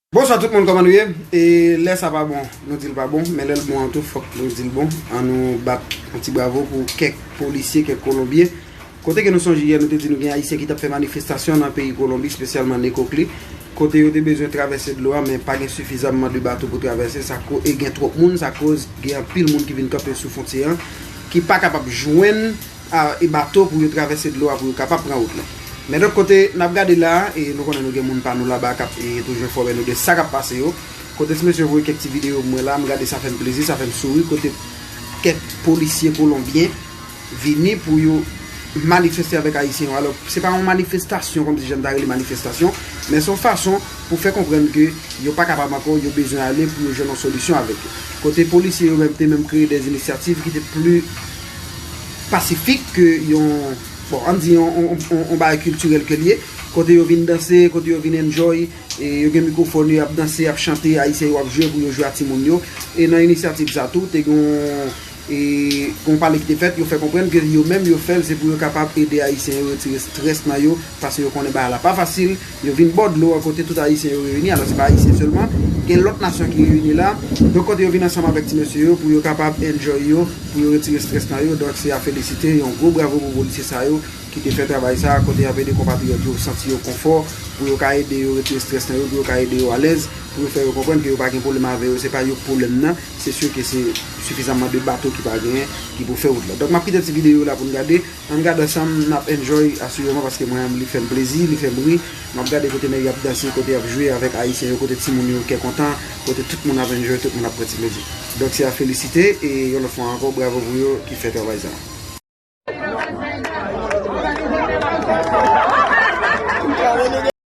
Bonswa tout moun kòman nou ye e lè sa pa bon nou dil pa bon men lèl bon an tou fòk nou dil bon an nou bat yon ti bravo pou kèk polisye kèk kolonbyen kote ke nou sonje yè nou te di nou gen ayisyen ki tap fè manifestasyon nan peyi kolonbi spesyalman nekokli kote yo te bezwen travèse dlo a men pa gen sifizamman de bato pou travèse sa ko e gen twòp moun sa koz gen anpil moun ki vin kanpe sou fontye an ki pa kapab jwenn e bato pou yo travèse dlo a pou yo kapab pran wout lan. Men lòt kote, n ap gade la a, e nou konnen nou gen moun pa nou laba k ap toujou enfòme nou de sa k ap pase yo. Kote ti mesye voye kèk ti videyo pou mwen la a, m gade sa fè m plezi, sa fè m souri, kote kèk polisye kolonbyen vini pou yo manifeste avèk ayisyen yo. Alò, se pa yon manifestasyon kòmsi jan n ta rele manifestasyon, men se yon fason pou fè konprann ke yo pa kapab ankò, yo bezwen ale pou yo jwenn yon solisyon avèk yo. Kote polisye yo menm te menm kreye dè inisyativ ki te pli. pasifik ke yon, bon, an di yon bagay kiltirèl ke li ye, kote yo vin danse, kote yo vin enjoy, e yo gen mikwofòn yo, y ap danse, y ap chante, Ayisyen yo ap jwe pou yo jwe ak timoun yo. E nan inisyativ sa tou, te gen yon pale ki te fèt, yo fè konprann ke yo menm yo fè l se pou yo kapab ede Ayisyen yo retire strès nan yo, Pase yo konnen bagay la pa fasil, yo vin bò dlo an kote tout Ayisyen yo reyini, alò se pa Ayisyen sèlman, gen lòt nasyon ki reyini la, donk kote yo vin ansanm avèk ti mesye yo pou yo kapab enjoy yo, pou yo retire strès nan yo, donk se a felisite, yon gwo bravo pou polisye sa yo ki te fè travay sa a, kote y ap ede konpatriyòt yo santi yo konfò, pou yo ka ede yo retire strès nan yo, pou yo ka ede yo alèz, pou yo fè yo konprann ke yo pa gen pwoblèm avè yo, se pa yo k pwoblèm nan, se sye ke se sifizanman de bato ki pa genyen ki pou fè wout la. Donk m ap kite ti videyo la pou n gade. Ann gad ansanm, nap enjoy asireman paske mwen an li fèm plezi, li fèm ri, map gade kote nèg yo ap danse, kote yap jwe avèk ayisyen yo, kote timoun yo kè kontan, kote tout moun ap enjoy, tout moun ap pran ti plezi. Donk se a felisite e yon lòt fwa ankò bravo pou yo ki fè travay sa a.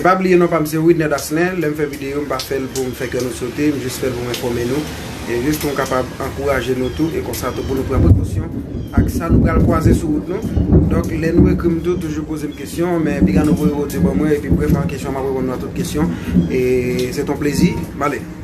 E pa bliye non pam se widner dasner lèm fè video m pa fèl poum fè kè nou sote m jis fèl poum enfòme nou e jis poum kapab ankouraje nou tou e konsa tou pou nou pran prekosyon ak sa nou pral kwaze sou wout nou donk lè nou ekrim tou toujou pozem kesyon men piga nou voye odyo ban mwen epi brèf an kesyon map reponn nou a tout kesyon e se ton plezi m ale.